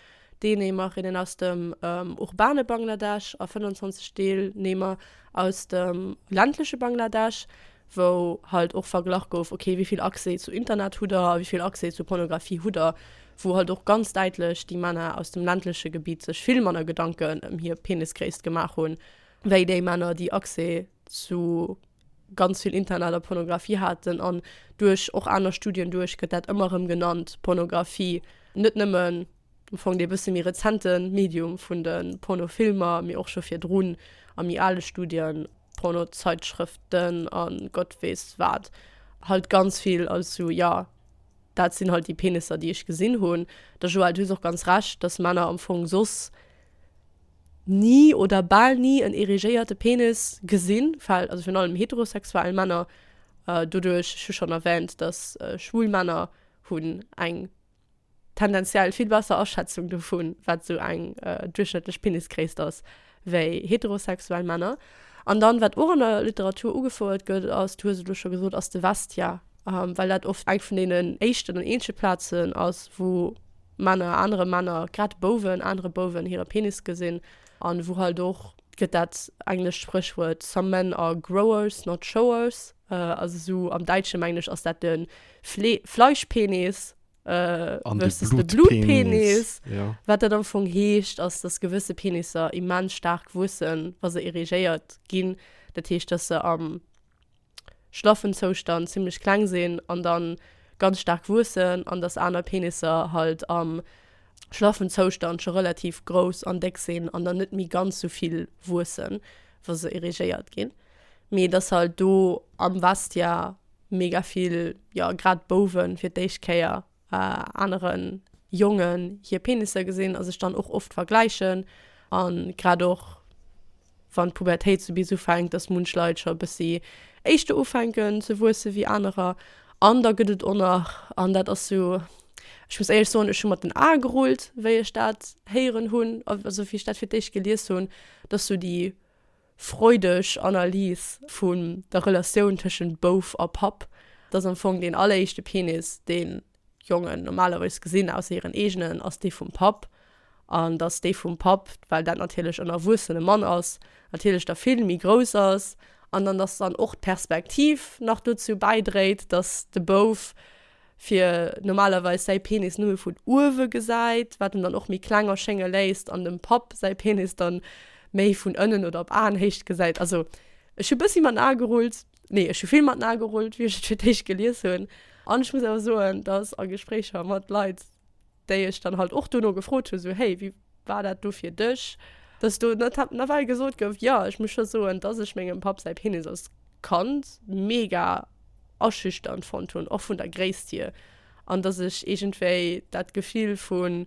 D'Deeneemerinnen aus dem urbane Bangladesch a 25 Deelnehmer aus dem ländleche Bangladesch, wou halt och verglach gouf, okay, wéi vill Accès zu Internet hutt der a wéi vill Accès zu Pornografie hutt der, wou halt och ganz däitlech déi Männer aus dem ländleche Gebitt sech vill manner Gedanken ëm hir Penisgréisst gemaach hunn, wéi déi Männer, déi Accès zu. ganz vill Internet a Pornografie haten an duerch och aner Studien duerch gëtt dat ëmmer erëm genannt, Pornografie, net nëmmen am Fong dee bësse méi rezente Medium vun de Pornofilmer, mee och scho virdrun a méi ale Studien, Pornozeitschrëften a Gott weess wat halt ganz vill. Also jo, dat sinn halt déi Penisser, déi ech gesinn hunn. Der Joëlle, du hues och ganz Recht, dass Männer am Fong soss ni oder bal ni en erigéierte Penis gesinn, well, also virun allem heterosexuell Männer, doduerch, ech hu schonn erwähnt, datt schwul Männer hunn eng tendenziell vill besser Aschätzung dovu wat esou eng duerchschnëttlech Penisgréisst ass wéi heterosexuell Männer. An dann, wat och an der Literatur ugefouert gëtt, ass, du hues et elo scho gesot, ass de Vestiaire, well dat oft eng vun deenen éischten an eenzege Plazen ass wou, Männer, anere Männer, grad Bouwen, anere Bouwen hire Penis gesinn. An wou halt och, gëtt dat englescht Spréchwuert Some men are growers, not showers. Also esou am Däitschen, mengen ech, ass dat de Flee, Fleischpenis versus de Blutpenis. Wat dat am Fong heescht, ass, dass gewësse Penisser immens staark wuessen, wa se erigéiert ginn. Dat heescht, dass se am. schlaffen Zoustand zimlech kleng sinn an dann ganz staark wuessen an dass aner Penisser halt am schlaffen Zoustand scho relativ grouss an déck sinn an dann net méi ganz sou vill wuessen wa se erigéiert ginn mee dass halt do am Vestiaire mega vill jo grad Bouwen fir d'éischt Kéier äh, aneren Jongen hier Penisser gesinn a sech dann och oft vergläichen an grad och wann d'Pubertéit sou bis ufänkt, dass munch Leit scho e bëssi éischter ufänken ze wuesse wéi anerer. An da gëtt et och nach, an dat ass sou, ech muss éierlech soen, ech hu mat den Ae gerullt, wéi ech dat héieren hunn, also wéi ech dat fir d'éischt gelies hunn, dass sou déi freudeg Analys vun der Relatioun tëschent Bouf a Papp. Dat ass am Fong deen alleréischte Penis, dee Jongen normalerweis gesinn, ausser hiren eegenen, ass dee vum Papp. An datt dee vum Papp, well dat natierlech en erwuessene Mann ass, natierlech da vill méi grouss ass. An dann, datt dann och d'Perspektiv nach dozou bäidréit, datt de Bouf fir normalerweis säi Penis nëmme vun uewe gesäit, wat en dann och méi kleng erschénge léisst an dem Papp säi Penis dann méi vun ënnen oder op Aenhéicht gesäit. Also ech hu bëssi mat den Ae gerullt, nee ech hu vill mat den Ae gerullt wéi ech et fir d'éischt gelies hunn an ech muss awer soen, datt a Gespréicher mat Leit, déi ech dann halt och dono gefrot hu, sou, Hey, wéi war dat do fir dech, dass do net hat nawell gesot gouf? Jo, ech muss scho soen, dass ech mengem Papp säi Penis als Kand mega aschüchternd fonnt hunn, och vun der Gréisst hier, an dass ech iergendwéi dat Gefill vu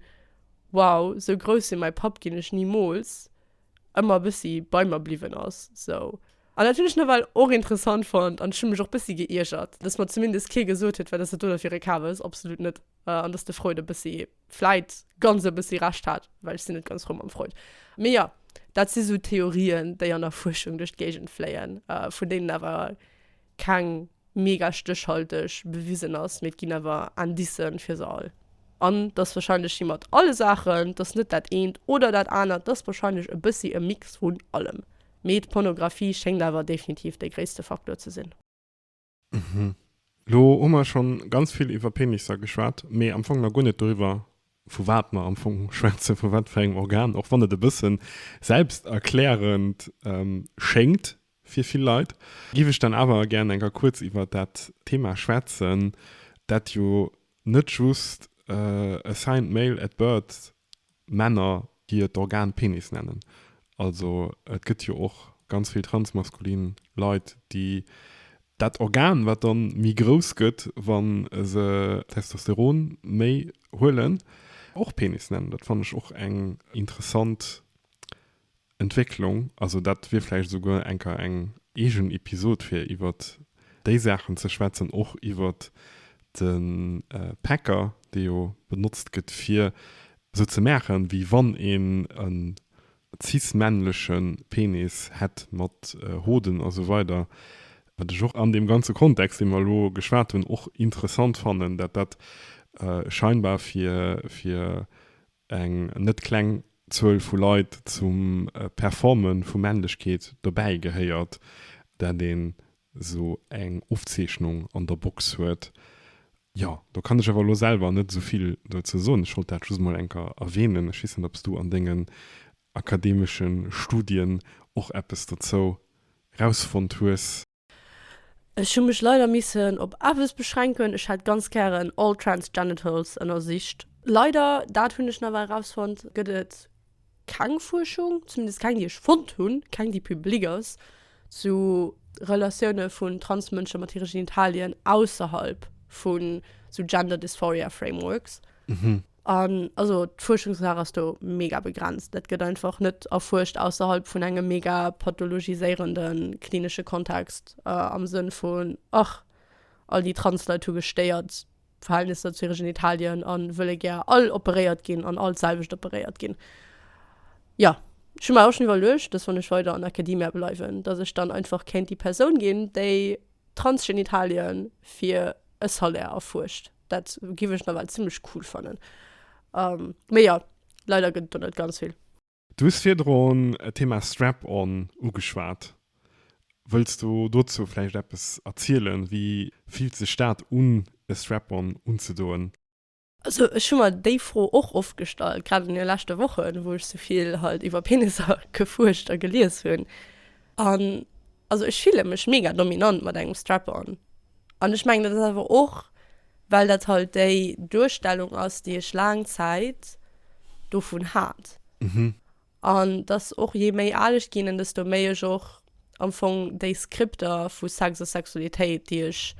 Wow, sou grouss wéi mäi Papp ginn ech nimools! ëmmer e bëssi bei mer bliwwen ass. Sou. An dat hunn ech nawell och interessant fonnt an ech hu mech och e bëssi geiergert, dass mer zumindest kee gesot huet, Wat ass dat do da fir e Kabes? Absolut net! Äh, an dass de Freud e bëssi, vläit ganz e bëssi Recht hat, well ech sinn net ganz frou mam Freud. Mee jo, dat si sou Theorien, déi an der Fuerschung duerch d'Géigend fléien, äh, vun deenen awer keng mega stéchhalteg bewisen ass, mee et ginn awer Indicen fir se all. An dass wahrscheinlech wéi mat alle Saachen, et ass net dat eent oder dat anert, et ass wahrscheinlech e bëssi e Mix vun allem, mee d'Pornografie schéngt awer definitiv dee gréisste Faktor ze sinn. Mhm. Lo hu mer schonn ganz vill iwwer Penisser geschwat, mee am Fong nach guer net doriwwer, vu wat mer am Fong schwätzen, vu wat fir engem Organ, och wann et e bësse selbsterklärend schéngt fir vill Leit, géif ech dann awer gären eng Kéier kuerz iwwer dat Thema schwätzen, dat jo net just assigned male at birth Männer, déi hiert Organ Penis nennen. Also et gëtt jo och ganz vill transmaskulin Leit, déi. Dat Organ, wat dann méi grouss gëtt, wa se Testosteron méi huelen, och Penis nennen. Dat fannen ech och eng interessant Entwécklung, also dat wier vläicht esouguer enker eng eegen Episod fir iwwert déi Saachen ze schwätzen, och iwwert de Packer, dee jo benotzt gëtt fir esou ze maachen, wéi wann een e cis-männleche Penis hätt mat Hoden a sou weider, wat ech och an deem ganze Kontext, dee mer elo geschwat hunn, och interessant fannen, dat dat scheinbar fir eng net kleng Zuel vu Leit zum Performe vu Männlechkeet dobäi gehéiert, dat een esou eng Ofzeechnung an der Box huet. Jo, do kann ech awer elo selwer net esou vill dozou soen. Ech wollt dat just emol eng Kéier erwänen. Ech weess net, ob s du an dengen akademesche Studien och eppes dozou erausfonnt hues. Ech hu mech leider missen op eppes beschränken, ech hätt ganz gären all trans genitals ënnersicht. Leider, dat hunn ech nawell rausfonnt, gëtt et keng Fuerschung, zumindest keng déi ech fonnt hunn, keng déi public ass, zu Relatioune vun trans Mënsche mat hire Genitalien ausserhalb vu sou Gender Dysphoria Frameworks. An also d'Fuerschungslag ass do mega begrenzt. Dat gëtt einfach net erfuerscht ausserhalb vun engem mega pathologiséierende klinesche Kontext, am Sënn vun, ach, all déi Trans-Leit hu gestéiert Verhältnisser zu hire Genitalien a wëlle gär all operéiert ginn an all d'selwecht operéiert ginn. Jo, ech hu mer och schonn iwwerluecht, dass wann ech weider an Academia bleiwen, dass ech dann einfach kéint déi Persoun ginn, déi Transgenitalien fir e Salaire erfuerscht. Dat giff ech nawell zimmlech cool fannen. Mee jo, leider gëtt et do net ganz vill. Du hues virdrun d'Thema Strap-on ugeschwat. Wëlls du dozou vläicht eppes erzielen? Wéi fillt sech dat un, e Strap-on unzedoen? Also ech hu mer déi Fro och oft gestallt, grad an de leschte Wochen, wou ech souvill halt iwwer Penisser gefuerscht a gelies hunn. An also ech fille mech mega dominant mat engem Strap-on. An ech mengen dat ass awer och well dat halt déi Duerstellung ass déi ech laang Zäit dovun hat. An dass och je méi al ech ginn, desto méi ech och am Fong déi Skripter vu Sex a Sexualitéit, déi ech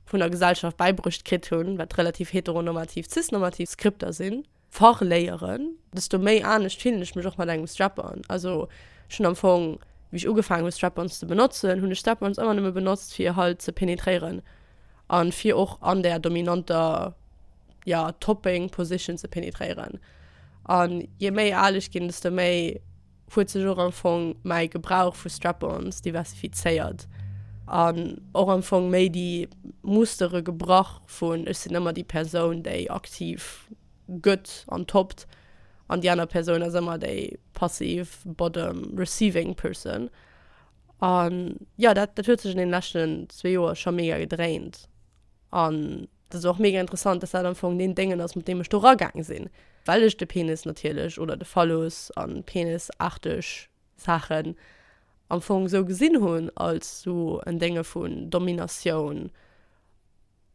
vun der Gesellschaft bäibruecht kritt hunn, wat relativ heteronormativ, cis-normativ Skripter sinn, verléieren, desto méi anescht fillen ech mech och mat engem Strap-on. Also ech hunn am Fong, wéi ech ugefaangen hunn, Strap-ons ze benotzen, hunn ech Strap-ons ëmmer nëmme benotzt, fir halt ze penetréieren. an fir och an der dominanter ja, Topping Position ze penetréieren. An je méi al ech ginn, desto méi huet sech och am Fong mäi Gebrauch vu Strap-ons diversifizéiert an och am Fong méi déi Mustere gebrach vun ech sinn ëmmer déi Persoun, déi aktiv gëtt an toppt an déi aner Persoun ass ëmmer déi passiv bottom receiving person. An ja dat dat huet sech an den leschten zwee Joer scho mega gedréint an dat ass och mega interessant, dass dat am Fong deen Déngen ass mat deem ech do ragaang sinn, well ech de Penis natierlech oder de Phallus an Penis-arteg Saachen am Fong esou gesinn hunn als esou en Dénge vun Dominatioun,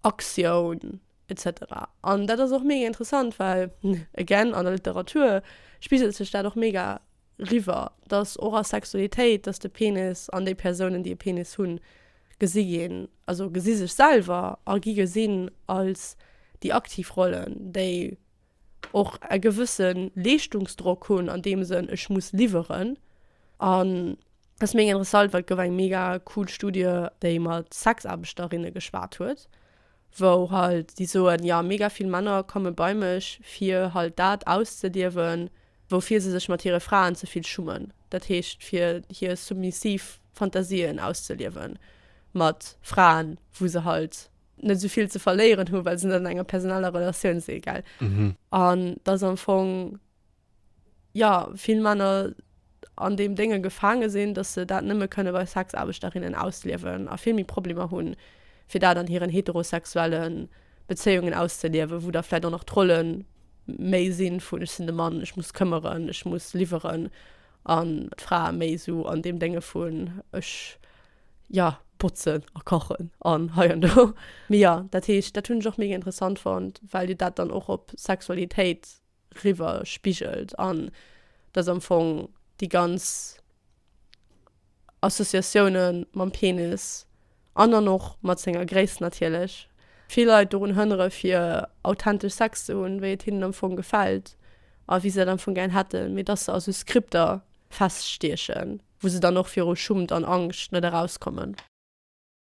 Aktioun etc. An dat ass och mega interessant, well again an der Literatur spiegelt sech dat och mega. riwwer, dass och a Sexualitéit, dass de Penis an déi Persounen, déi e Penis hunn, gesi ginn, also gesi sech selwer a gi gesinn als déi aktiv Rollen, déi och e gewësse Leeschtungsdrock hunn an deem Sënn, ech muss liwweren. An et ass mega interessant, well et gouf eng mega cool Studie, déi mat Sexaarbechterinnen geschwat huet, wou halt déi soen, jo mega vill Männer komme bei mech fir halt dat auszediewen, woufir se sech mat hire Fraen ze vill schummen, dat heescht fir hir submissiv Fantasien auszeliewen mat Fraen, wou se halt net esou vill ze verléieren hu well se net an enger personeller Relatioun si, gell? An et ass am Fong. jo vill Männer an deem Dénge gefaange sinn, datt se dat nëmme kënne bei Sexaarbechterinne ausliewen a vill méi Problemer hu fir dat an hiren heterosexuelle Bezéiungen auszeliewen, wou da vläicht och nach d'Rolle méi si vun ech sinn de Mann, ech muss këmmeren, ech muss liwweren, an d'Frae méi esou an deem Dénge vun ech, jo, botzen a kachen an hei an do. Mee jo, dat heescht, dat hunn ech och mega interessant fonnt, well jo dat dann och op Sexualitéit riwwer spigelt an dass am Fong déi ganz Associatioune mam Penis an dann och mat senger Gréisst natierlech vill Leit dorun hënnere fir authentesch Sex ze hunn, wéi et hinnen am Fong gefält a wéi se dat am Fong gären hätten, mee dass se a sou Skripter feststiechen, wou se dann och viru Schummt an Angscht net erauskommen.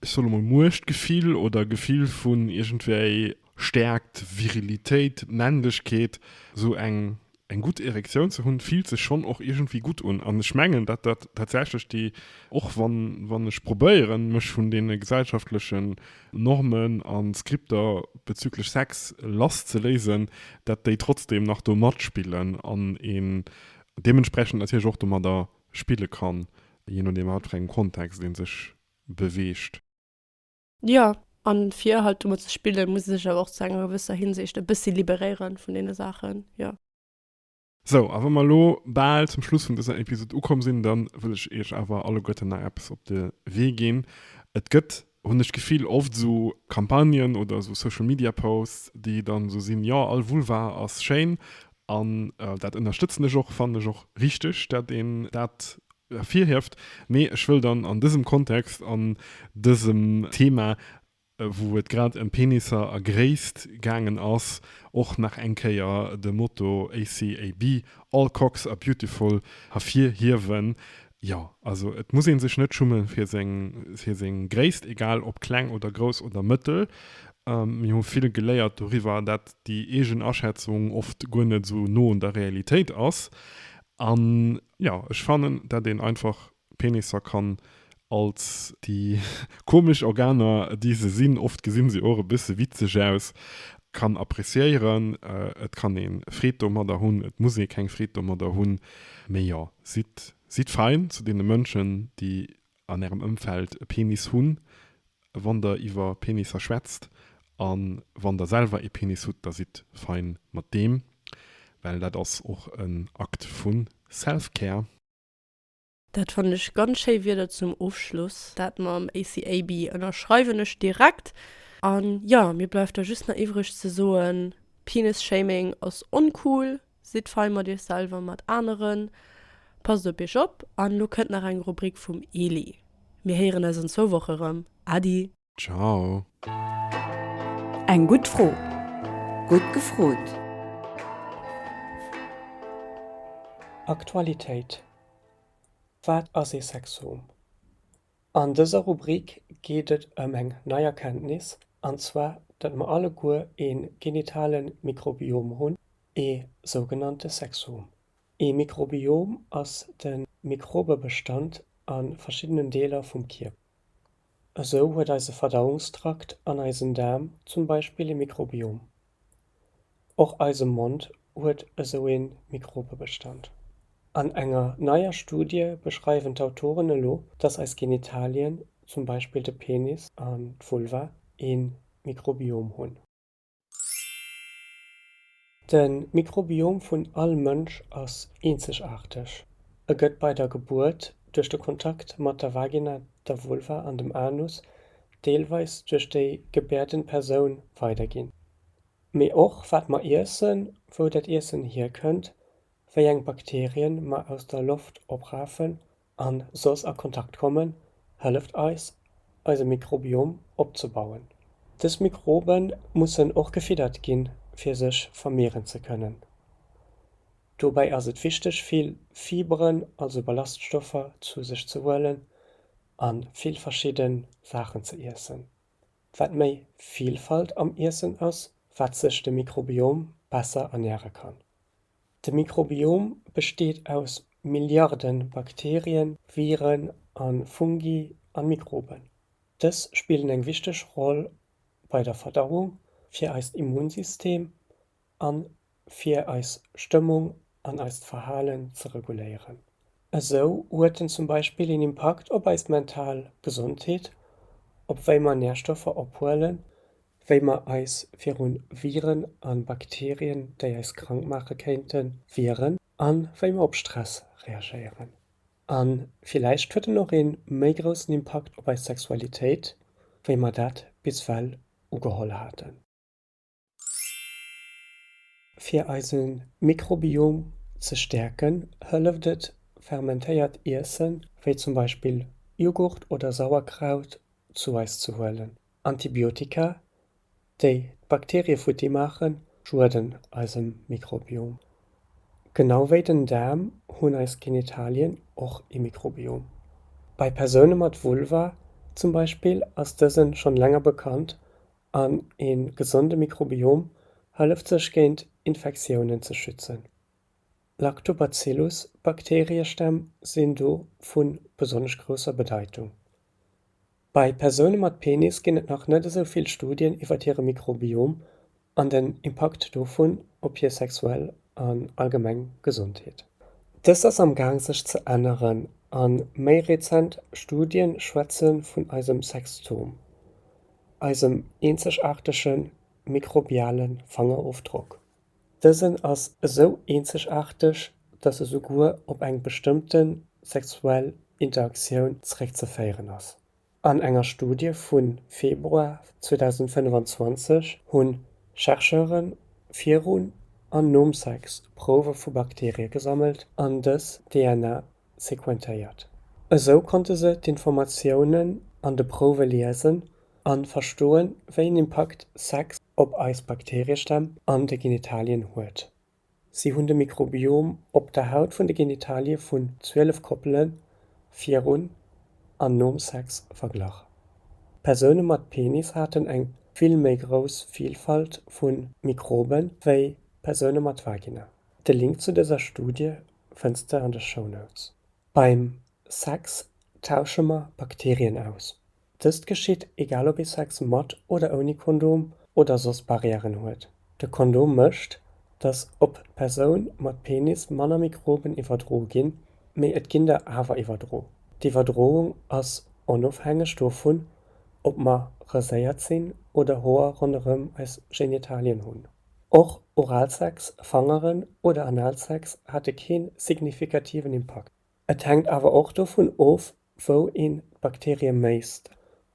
ech soll emol Muechtgefill oder Gefill vun iergendwéi Stäerkt, Virilitéit, Männlechkeet, esou eng eng gutt Erektioun ze hunn, fillt sech schonn och iergendwéi gutt un. An ech mengen, datt dat tatsächlech déi, och wann wann ech probéieren, mech vun deene gesellschaftlechen Normen a Skripter bezüglech Sex lass ze léisen, datt déi trotzdem nach do matspillen an een deementsprechend natierlech och domadder spille kann, jee nodeem a wat fir engem Kontext ee sech beweegt. Jo, a fir halt domat ze spillen, muss ee sech awer och zu enger gewësser Hinsicht e bëssi liberéieren vun deene Saachen, jo. Sou, a wa mer elo bal zum Schluss vun dëser Episod ukomm sinn, da wëll ech iech awer alleguerten nach eppes op de Wee ginn. Et gëtt, hunn ech d'Gefill, oft esou Campagnen oder esou Social-Media-Posts, déi dann esou sinn, Jo, all Vulva ass schéin, An dat ënnerstëtzen ech och, fannen ech och richtig, datt een dat ervirhieft. Mee ech wëll dann an dësem Kontext, an dësem Thema, wou et grad ëm Penisser a Gréisst gaangen ass, och nach eng Kéier de Motto ACAB, All Cocks are beautiful, ervirhiewen, Jo, also et muss een sech net schumme fir seng fir seng Gréisst, egal ob kleng oder grouss oder mëttel. Mir hu vill geléiert doriwwer, dat déi eegen Aschätzung oft guer net esou no un der Realitéit ass. An jo, ech fannen, dat een einfach Penisser kann als déi komesch Organer déi se sinn, oft gesinn se och e bësse witzeg aus, kann appreciéieren. Et kann een Freed domadder hunn, et muss ee keng Freed domadder hunn, mee jo, Sidd, sidd fein zu deene Mënschen, déi an ärem Ëmfeld e Penis hunn, wann der iwwer Penisser schwätzt. A wann der selwer ee Penis hutt, da sidd fein mat deem, well dat ass och en Akt vu Self-Care. Dat fannen ech ganz schéi Wierder zum Ofschluss. Dat mam ACAB ënnerschreiwen ech direkt. An jo, mir bleift da just nach iwwreg ze soen, Penis-Shaming ass oncool, Sidd fei mat iech selwer an mat aneren, passt op iech op an elo kënnt nach eng Rubrik vum Eli. Mir héieren eis an zwou Woche erëm. Adi! Ciao! Eng gutt Fro, gutt gefrot! Aktualitéit Wat ass ee Sexom? An dëser Rubrik geet et ëm eng nei Erkenntnis, an zwar datt mer alleguer ee genitale Mikrobiom hunn, ee sougenannte Sexom. Ee Mikrobiom ass de Mikrobebestand a verschiddenen Deeler vum Kierper. Esou huet eise Verdauungstrakt an eisen Daarm zum Beispill ee Mikrobiom. Och eise Mond huet esou ee Mikrobebestand. An enger neier Studie beschreiwen d'Autoren elo, dass eis Genitalien, zum Beispill de Penis an d'Vulva, ee Mikrobiom hunn. De Mikrobiom vun all Mënsch ass eenzegaarteg. E gëtt bei der Gebuert, duerch de Kontakt mat der Vagina, der Vulva an dem Anus deelweis duerch déi gebäerden Persoun weiderginn, mee och wat mer iessen, wou dat Iessen hierkënnt, wéi eng Bakterien mer aus der Loft oprafen an soss a Kontakt kommen, hëlleft eis eise Mikrobiom opzebauen. Dës Mikrobe mussen och gefiddert ginn, fir sech vermehren ze kënnen. Dobäi ass et wichteg vill Fiberen, also Ballaststoffer, zu sech ze huelen, a vill verschidde Saachen ze iessen. Wat méi Vilfalt am Iessen ass, wat sech de Mikrobiom besser ernäre kann. De Mikrobiom besteet aus Milliarde Bakterien, Viren a Fungi a Mikroben. Dës spillen eng wichteg Roll bei der Verdauung, fir eist Immunsystem a fir eis Stëmmung an eist Verhalen ze reguléieren. Esou huet en zum Beispill een Impakt op eis mental Gesondheet, op wéi mer Närstoffer ophuelen, wéi mer eis viru Viren a Bakterien, déi eis krank maache kéinten, wieren a wéi mer op Stress reagéieren. A villäicht huet en och ee méi groussen Impakt op eis Sexualitéit, wéi mer dat bis ewell ugeholl haten. Fir eise Mikrobiom ze stäerken, hëlleft et, fermentéiert Iessen, wéi zum Beispill Jughurt oder Sauerkraut, zu eis ze huelen. Antibiotika, déi d'Bakterie futti maachen, schueden eisem Mikrobiom. Genau wéi den Daarm hunn eis Genitalien och ee Mikrobiom. Bei Persoune mat Vulva zum Beispill ass dësen schonn länger bekannt An ee gesonde Mikrobiom hëlleft sech géint Infektiounen ze schützen. Lactobacillus-Bakteriestämm sinn do vu besonnesch grousser Bedeitung. Bei Persoune mat Penis ginn et nach net esou vill Studien iwwer hire Mikrobiom an den Impakt dovun op hir sexuell an allgemeng Gesondheet. Dëst ass am Gaang sech ze änneren a méi rezent Studie schwätze vun eisem Sextom. eisem eenzegaartege mikrobiale Fangerofdrock. Dësen ass esou eenzegaarteg, dass e souguer op eng bestëmmte sexuell Interaktioun zeréckzeféieren ass. An enger Studie vu Februar 2025 hu Chercheure virun an nom Sex Prouwe vu Bakteerie gesammelt an dës DNA sequentéiert. Esou konnte se d'Informatiounen an de Prouwe liesen a verstoen, wéi en Impakt Sex op eis Bakteriestämm an de Genitalien huet. Si hunn de Mikrobiom op der Haut vun de Genitalie vun 12 Koppele virun an nom Sex verglach. Persoune mat Penis haten eng vill méi grouss Vilfalt vu Mikrobe wéi Persoune mat Vagina. De Link zu dëser Studie fënns de an de Shownotes. Beim Sex tausche mer Bakterien aus. Dëst geschitt egal ob ee Sex mat oder ouni Kondom oder soss Barrièren huet. De Kondom mécht, datt op d'Persoun mat Penis manner Mikroben iwwerdro ginn, mee et ginn der awer iwwerdro. D'Iwwerdroung ass onofhängeg dovun, ob mer raséiert sinn oder Hoer ronderëm eis Genitalien hunn. Och Oralsex, Fangeren oder Analsex hate kee signifikativen Impakt. Et hänkt awer och dovun of, wou een d'Bakterie méisst,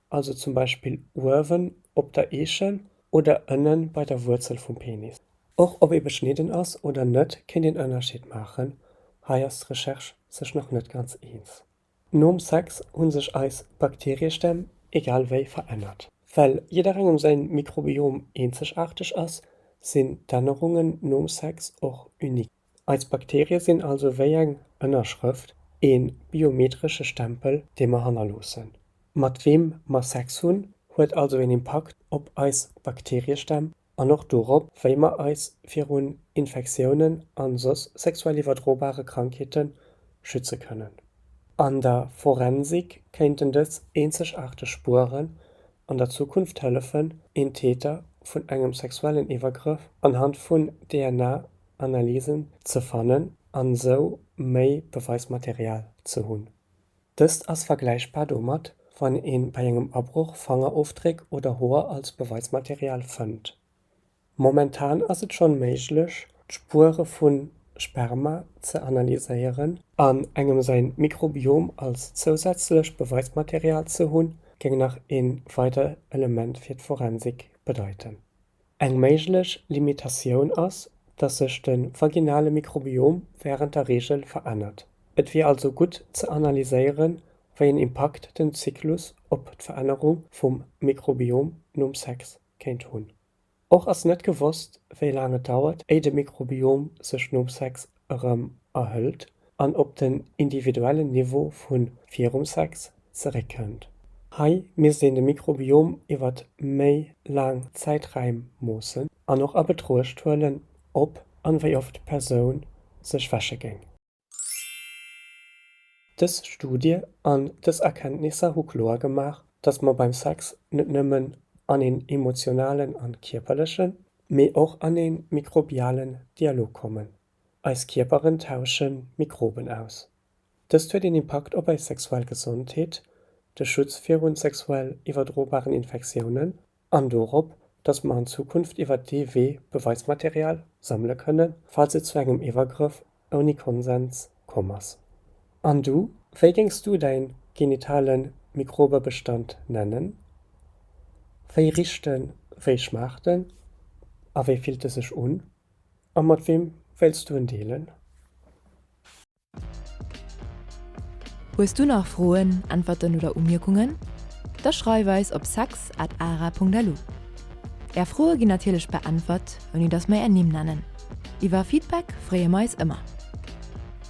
also zum Beispill uewen op der Eechen oder ënne bei der Wuerzel vum Penis. Och ob ee beschnidden ass oder net, kéint een Ënnerscheed maachen, hei ass d'Recherche sech nach net ganz eens. Nom Sex hu sech eis Bakteriestämm egal wéi verännert. Well jidderengem säi Mikrobiom eenzegaarteg ass, sinn d'Ännerungen nom Sex och unique. Eis Bakterie sinn also wéi eng Ënnerschrëft, ee biometresche Stempel, dee mer hannerloossen. Mat weem mer Sex hunn, huet also een Impakt op eis Bakteriestämm an och dorop, wéi mer eis virun Infektiounen a soss sexuell iwwerdrobare Krankheete schütze kënnen. An der Forensik kéinten dës eenzegaarteg Spueren an der Zukunft hëllefen, een Täter vun engem sexuellen Iwwergrëff anhand vun DNA-Analysen ze fannen a sou méi Beweismaterial ze hunn. Dëst ass vergläichbar domat, wann ee bei engem Abroch Fangerofdréck oder Hoer als Beweismaterial fënnt. Momentan ass et schonn méiglech, d'Spuere vu Sperma ze analyséieren. An engem säin Mikrobiom als zousätzlecht Beweismaterial ze hunn, géing nach een weider Element fir d'Forensik bedeiten. Eng méiglech Limitatioun ass, datt sech de vaginale Mikrobiom wärend der Reegel verännert. Et wier also gutt ze analyséieren, wéi en Impakt den Zyklus op d'Verännerung vum Mikrobiom nom Sex kéint hunn. Och ass net gewosst, wéi laang et dauert, éi de Mikrobiom sech nom Sex erëm erhëlt an op den individuellen Niveau vu virum Sex zeréckkënnt. Hei misst een de Mikrobiom iwwer méi laang Zäiträim moossen an och a Betruecht huelen, ob an wéi oft d'Persoun sech wäsche géing. Dës Studie an dës Erkenntnisser hu kloer gemaach, dass mer beim Sex net nëmmen an een emotionalen an kierperlechen, mee och an ee mikrobialen Dialog kommen. Eis Kierperen tausche Mikroben aus. Dëst huet een Impakt op eis sexuell Gesondheet, de Schutz virun sexuell iwwerdrobaren Infektiounen an dorop, dass mer an Zukunft iwwert dee Wee Beweismaterial sammele kënnen, falls et zu engem Iwwergrëff ouni Konsens komm ass. An du? Wéi géings du däin genitale Mikrobebestand nennen? Wéi richt en, wéi schmaacht en a wéi fillt e sech un? A mat weem wéilts du en deelen? Hues du nach Froen, Äntwerten oder Umierkungen? Da schreif eis op sex at ara punkt lu. Är Froe ginn natierlech beäntwert, ouni datt mer är Nimm nennen. Iwwer Feedback freeë mer eis ëmmer!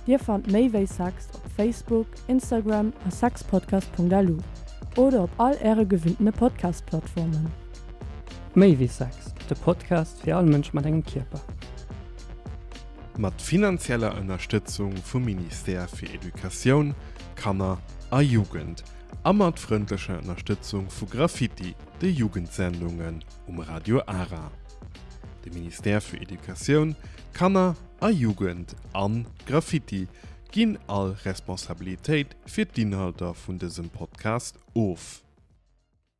Dir fannt méi wéi Sex op Facebook, Instagram a sexpodcast.lu oder op all äre gewinnte Podcast-Plattformen. Méi wéi Sex, de Podcast fir all Mënsch mat engem Kierper. Mat finanzieller Ënnerstëtzung vum Ministère fir Educatioun, Kanner a Jugend a mat frëndlecher Ënnerstëtzung vu Graffiti, de Jugendsendungen, um Radio Ara. De Ministère fir Educatioun, Kanner a Jugend an Graffiti ginn all Responsabilitéit fir d'Inhalter vun dësem Podcast of.